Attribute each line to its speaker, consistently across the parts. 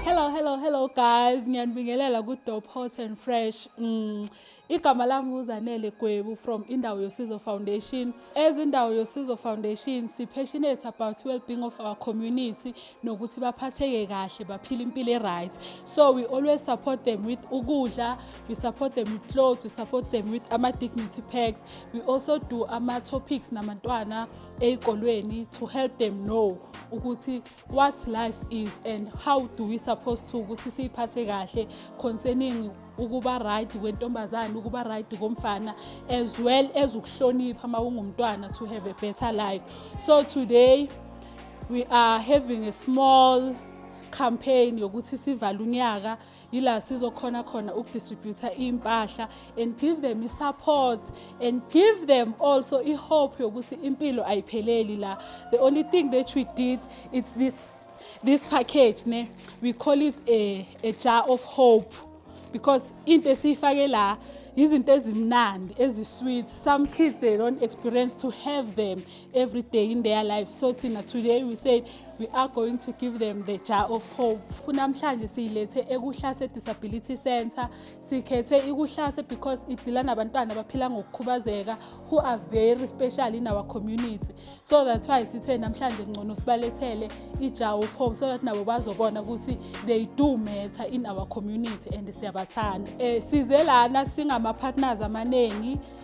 Speaker 1: Hello, hello, hello guys. Ngiyanibingelela ku Dope Hot and Fresh. Mm. Igama lami uZanele Gwebu from Indawo Yosizo Foundation. As Indawo Yosizo Foundation, si passionate about well-being of our community nokuthi baphatheke kahle, baphile impilo e-right. So we always support them with ukudla, we support them with clothes, we support them with ama dignity packs. We also do ama topics namantwana ezikolweni to help them know ukuthi what life is and how do we supposed to ukuthi siyiphathe kahle concerning ukuba right kwentombazane ukuba right komfana as well as ukuhlonipha uma ungumntwana to have a better life so today we are having a small campaign yokuthi sivale unyaka yila sizokhona khona ukudistributha iy'mpahla and give them i-support and give them also i-hope yokuthi impilo ayipheleli la the only thing that we did it's this this package ne we call it a, a jar of hope because into esiyifake la yizinto ezimnandi ezisweet some kids they don't experience to have them every day in their life so thina today we said we are going to give them the jar of hope kunamhlanje siyilethe ekuhlase disability center sikhethe ikuhlase because idila nabantwana abaphila ngokukhubazeka who are very special in our community so that's why sithe namhlanje kungcono sibalethele ijar of hope so that nabo bazobona ukuthi they do matter in our community and siyabathanda um size lana singama-partners amaningi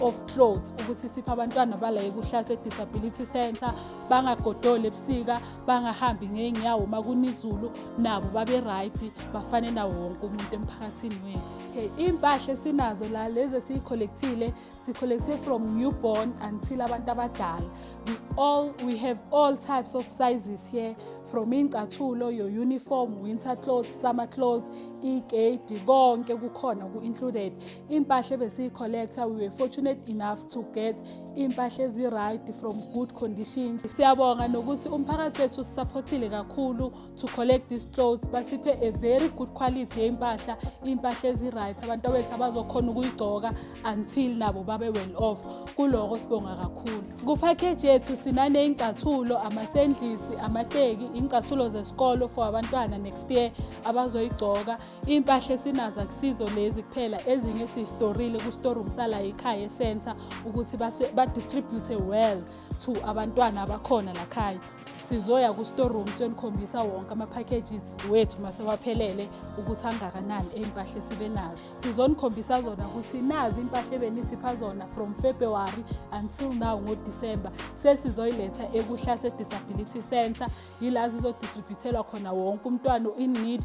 Speaker 1: of clothes ukuthi siphe abantwana bala ekuhlathi e-disability center bangagodoli ebusika bangahambi ngey'nyawo uma kunizulu nabo babe-right bafane nawo wonke umuntu emphakathini wethu okay iy'mpahla esinazo la lezi esiyi-collectile si-collecte from newborn until abantu abadala we all we have all types of sizes here from iy'ncathulo your uniform winter clothes summer clothes iy'geyidi konke kukhona ku-included impahla ebesiyi-collector we were fortunate enough to get iy'mpahla ezi-right from good conditions siyabonga nokuthi umphakathi wethu usisaphothile kakhulu to collect these clothes basiphe a very good quality yey'mpahla iy'mpahla ezi-right abantu abethu abazokhona ukuyigcoka until nabo babe well off kuloko sibonga kakhulu kuphakeji yethu sinaney'ngcathulo amasendlisi amateki iy'ngcathulo zesikolo for abantwana next year abazoyigcoka Iy'mpahla esinazo akusizo lezi kuphela ezinye sizistorile ku-storeroom sala ekhaya e-center ukuthi badistribute well to abantwana abakhona lakhaya sizoya ku-storeroom siyonikhombisa wonke ama-packages wethu masewaphelele ukuthi angakanani ey'mpahla esibe nazo sizonikhombisa zona ukuthi nazi iy'mpahla ebenisipha zona from february until now ngodisemba sesizoyiletha ekuhlase disability center yila zizodistributhelwa khona wonke umntwana in need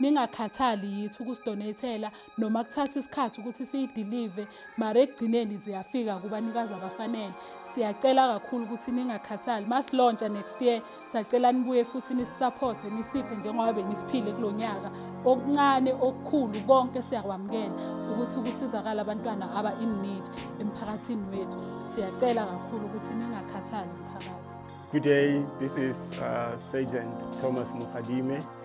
Speaker 1: ningakhathali yithi ukusidonethela noma kuthatha isikhathi ukuthi siyidilive mara ekugcineni ziyafika kubanikazi abafanele siyacela kakhulu ukuthi ningakhathali masilontsha next year sacela nibuye futhi nisisapothe nisiphe njengoba benisiphile kulo nyaka okuncane okukhulu konke siyakwamukela ukuthi ukusizakala abantwana aba in need emphakathini wethu siyacela kakhulu ukuthi ningakhathali mphakathi Good day,
Speaker 2: this is uh, Sergeant Thomas Mukhadime.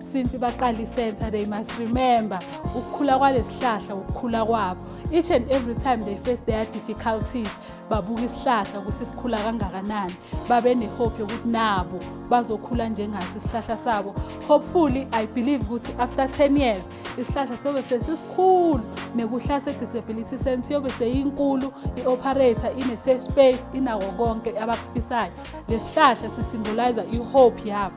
Speaker 1: since baqala i-center they must remember ukukhula kwalesihlahla ukukhula kwabo each and every time they face their difficulties babuka isihlahla ukuthi sikhula kangakanani babe nehope yokuthi nabo bazokhula njengaso isihlahla sabo hopefully i believe ukuthi after 10 years isihlahla siyobe sesisikhulu nekuhlase disability center yobe seyinkulu i-operator ine-safe space inako konke abakufisayo lesihlahla sisimboliza i-hope yabo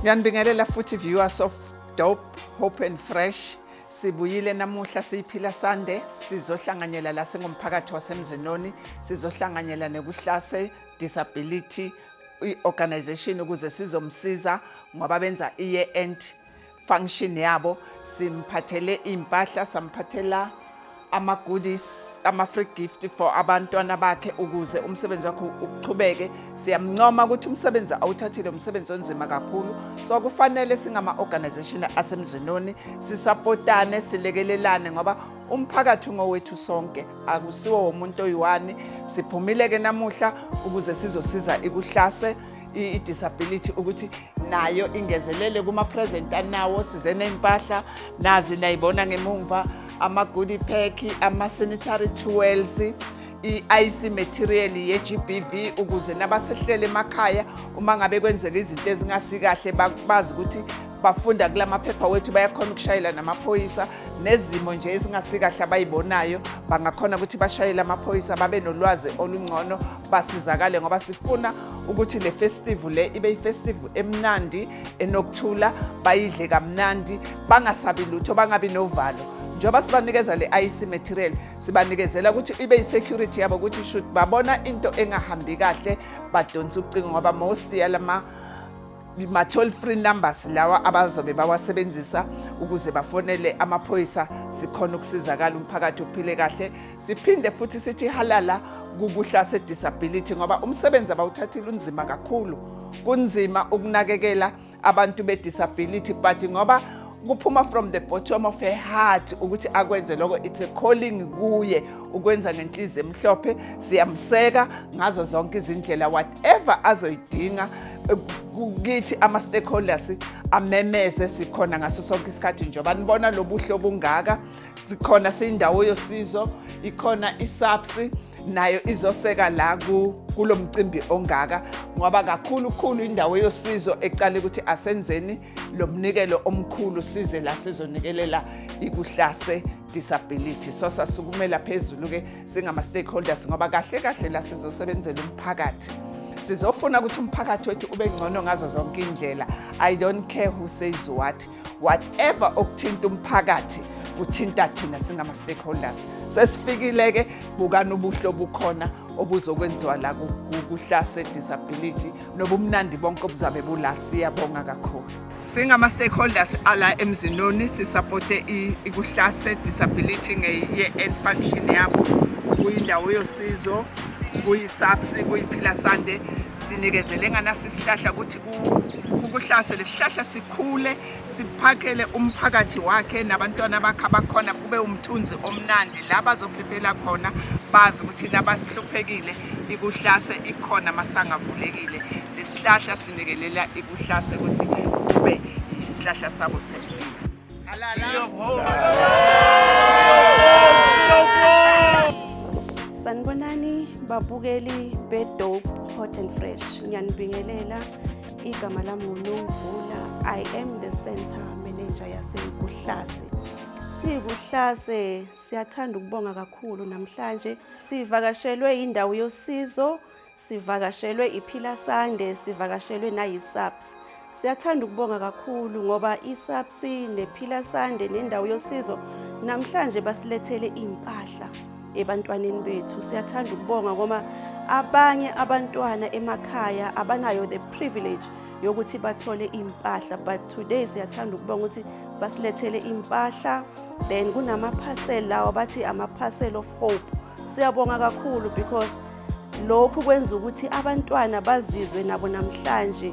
Speaker 1: Ngiyanibingelela
Speaker 3: futhi viewers of Dope Hope and Fresh. Sibuyile namuhla siyiphila sande sizohlanganyela la singumphakathi wasemzinoni sizohlanganyela nekuhlase disability i-organization ukuze sizomsiza ngoba benza i-year end function yabo simphathele impahla samphathela ama goodies ama free gift for abantwana bakhe ukuze umsebenzi wakhe uqhubeke siyamuncoma ukuthi umsebenzi awuthathile umsebenzi onzima kakhulu so kufanele singama organization asemzinoni sisapotane silekelelane ngoba umphakathi ngowethu sonke akusiwo womuntu oyiwani siphumile ke namuhla ukuze sizosiza ikuhlase i-disability ukuthi nayo ingezelele kuma-present anawo size ney'mpahla nazi nayibona ngemumva ama-goody pack ama-sanitary towels i-ic material ye-gbv ukuze nabasehlele emakhaya uma ngabe kwenzeka izinto ezingasikahle bazi ukuthi bafunda kula maphepha wethu bayakhona ukushayela namaphoyisa nezimo nje ezingasikahle abayibonayo bangakhona ukuthi bashayele amaphoyisa babe nolwazi olungcono basizakale ngoba sifuna ukuthi le festivu le ibe ifestivu emnandi enokuthula bayidle kamnandi bangasabi lutho bangabi novalo njengoba sibanikeza le IC material sibanikezela ukuthi ibe i-security yabo ukuthi should babona into engahambi kahle badonsa ucingo ngoba most yalama ma-toll free numbers lawa abazobe bawasebenzisa ukuze bafonele amaphoyisa sikhona ukusizakala umphakathi uphile kahle siphinde futhi sithi halala kukuhla se-disability ngoba umsebenzi abawuthathile unzima kakhulu kunzima ukunakekela abantu be-disability but ngoba kuphuma from the bottom of her heart ukuthi akwenze lokho it's a calling kuye ukwenza ngenhliziyo emhlophe siyamseka ngazo zonke izindlela whatever azoyidinga kithi ama-stakeholders amemeze sikhona ngaso sonke isikhathi njengoba nibona lobuhle obungaka sikhona siyindawo yosizo ikhona isapsi nayo izoseka la kulo mcimbi ongaka ngoba kakhulu khulu indawo yosizo ecale ukuthi asenzeni lo mnikelo omkhulu size la sizonikelela ikuhlase disability so sasukumela phezulu-ke singama-stakeholders ngoba kahle kahle la sizosebenzela umphakathi sizofuna ukuthi umphakathi wethu ube ngcono ngazo zonke iy'ndlela i don't care who says what whatever okuthinta umphakathi kuthinta thina singama-stakeholders sesifikile-ke bukani ubuhle obukhona obuzokwenziwa la kuhlase disability nobumnandi bonke obuzabe bula siyabonga kakhulu singama-stakeholders ala emzinoni sisapote ikuhlase disability ngeye-end function yabo kuyindawo yosizo kuyisapsi kuyiphila sande sinikezele nganasisihlahla ukuthi kukuhlase lesihlahla sikhule siphakele umphakathi wakhe nabantwana bakhe abakhona kube umthunzi omnandi la bazophephela khona bazi ukuthi nabasihluphekile ikuhlase ikhona masangavulekile lesihlahla sinekelela ikuhlase ukuthi kube isihlahla sabo sempilo
Speaker 4: sanibonani babukeli bedope hot and fresh ngiyanibingelela Igama lami uNomvula. I am the center manager yaseKuhlase. SiyiKuhlase siyathanda ukubonga kakhulu namhlanje. Sivakashelwe indawo yosizo, sivakashelwe iPhila Sande, sivakashelwe nayiSAPS. Siyathanda ukubonga kakhulu ngoba iSAPS Sinde, Phila Sande nendawo yosizo namhlanje basilethele impahla ebantwaneni bethu. Siyathanda ukubonga ngoba abanye abantwana emakhaya abanayo the privilege yokuthi bathole impahla but today siyathanda ukubonga ukuthi basilethele impahla then kunama parcel lawa bathi ama parcel of hope. Siyabonga kakhulu because lokhu kwenza ukuthi abantwana bazizwe nabo namhlanje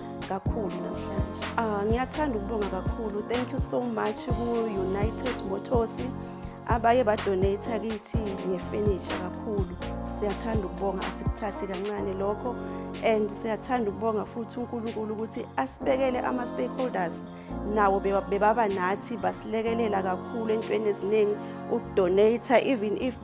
Speaker 4: kakhulu namhlanje. Ah, ngiyathanda ukubonga kakhulu. Thank you so much ku United Motors abaye ba donate kithi nge furniture kakhulu. Siyathanda ukubonga asikuthathi kancane lokho and siyathanda ukubonga futhi uNkulunkulu ukuthi asibekele ama stakeholders nawo bebaba nathi basilekelela kakhulu entweni eziningi ukudonate even if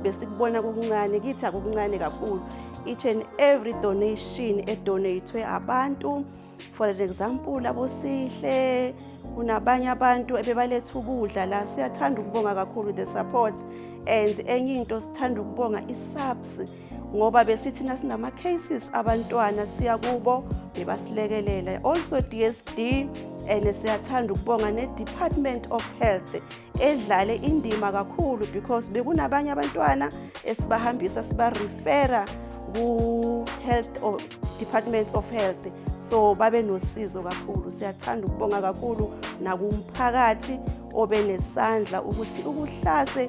Speaker 4: besikubona kukuncane kithi akukuncane kakhulu each and every donation edonatwe abantu for an example abosihle kunabanye abantu ebebaletha ukudla la siyathanda ukubonga kakhulu the support and enye into sithanda ukubonga i-subs ngoba besithina sinama cases abantwana siya kubo bebasilekelela also DSD and siyathanda ukubonga ne Department of Health edlale indima kakhulu because bekunabanye abantwana esibahambisa siba refera ku health or Department of Health so babe nosizo kakhulu siyathanda ukubonga kakhulu nakumphakathi obe nesandla ukuthi ukuhlase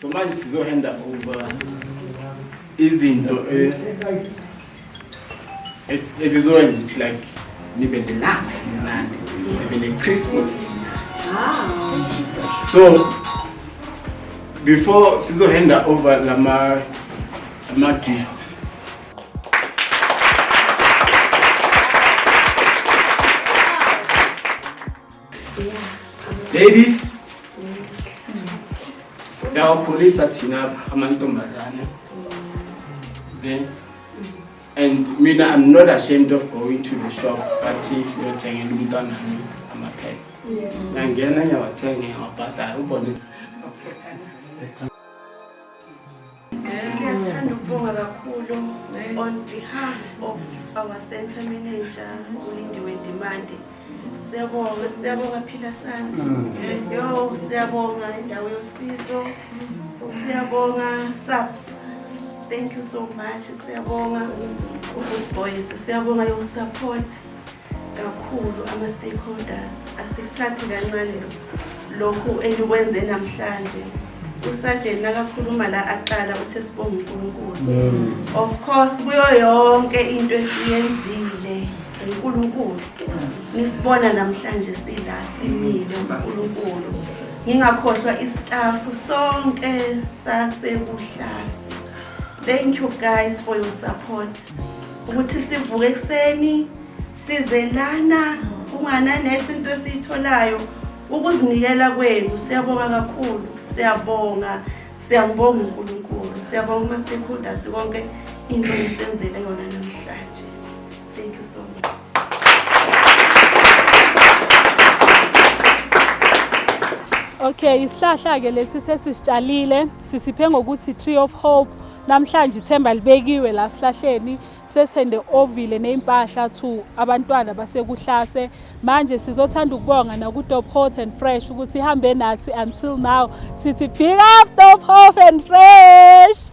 Speaker 2: so manje sizohanda over izinto eh, ezi- ezizokwenza ukuthi like nibe nelanga elimnandi nibe ne-christmas so before sizohanda over lama ama-gifts Ladies. Siyawakhulisa thina amantombazane. Ne? And mina I'm not ashamed of going to the shop but ngiyothengela umntwana wami ama pets. Ngiyangena ngiyawathenga ngiyawabhadala ubone.
Speaker 4: Siyathanda ukubonga kakhulu on behalf of our center manager uLindiwe Ndimande. Siyabonga, siyabonga phila sami. Mm. Yo, siyabonga indawo yosizo. Siyabonga SAPS. Thank you so much. Siyabonga uGood Boys. Siyabonga your support. kakhulu ama-stakeholders asikucathi kancane lokhu enikwenze namhlanje usajeni nakakhuluma la aqala uthe sibonga unkulunkulu of course kuyo yonke into esiyenzile unkulunkulu nisibona namhlanje sila simile unkulunkulu ngingakhohlwa istafu sonke sasebuhlasi thank you guys for your support ukuthi sivuke ekuseni size lana kungananethi into esiyitholayo ukuzinikela kwenu siyabonga kakhulu siyabonga siyambonga unkulunkulu siyabonga kuma-stakeholders konke into esenzele yona namhlanje thank you so much
Speaker 1: Okay, isihlahla ke lesi sesisitshalile sisiphe ngokuthi Tree of Hope Namhlanje ithemba libekiwe la sihlahleni sesende ovile nezimpahla to abantwana basekuhlase manje sizothanda ukubonga nakuTop Hot and Fresh ukuthi ihambe nathi until now sithi big up Top Hot and Fresh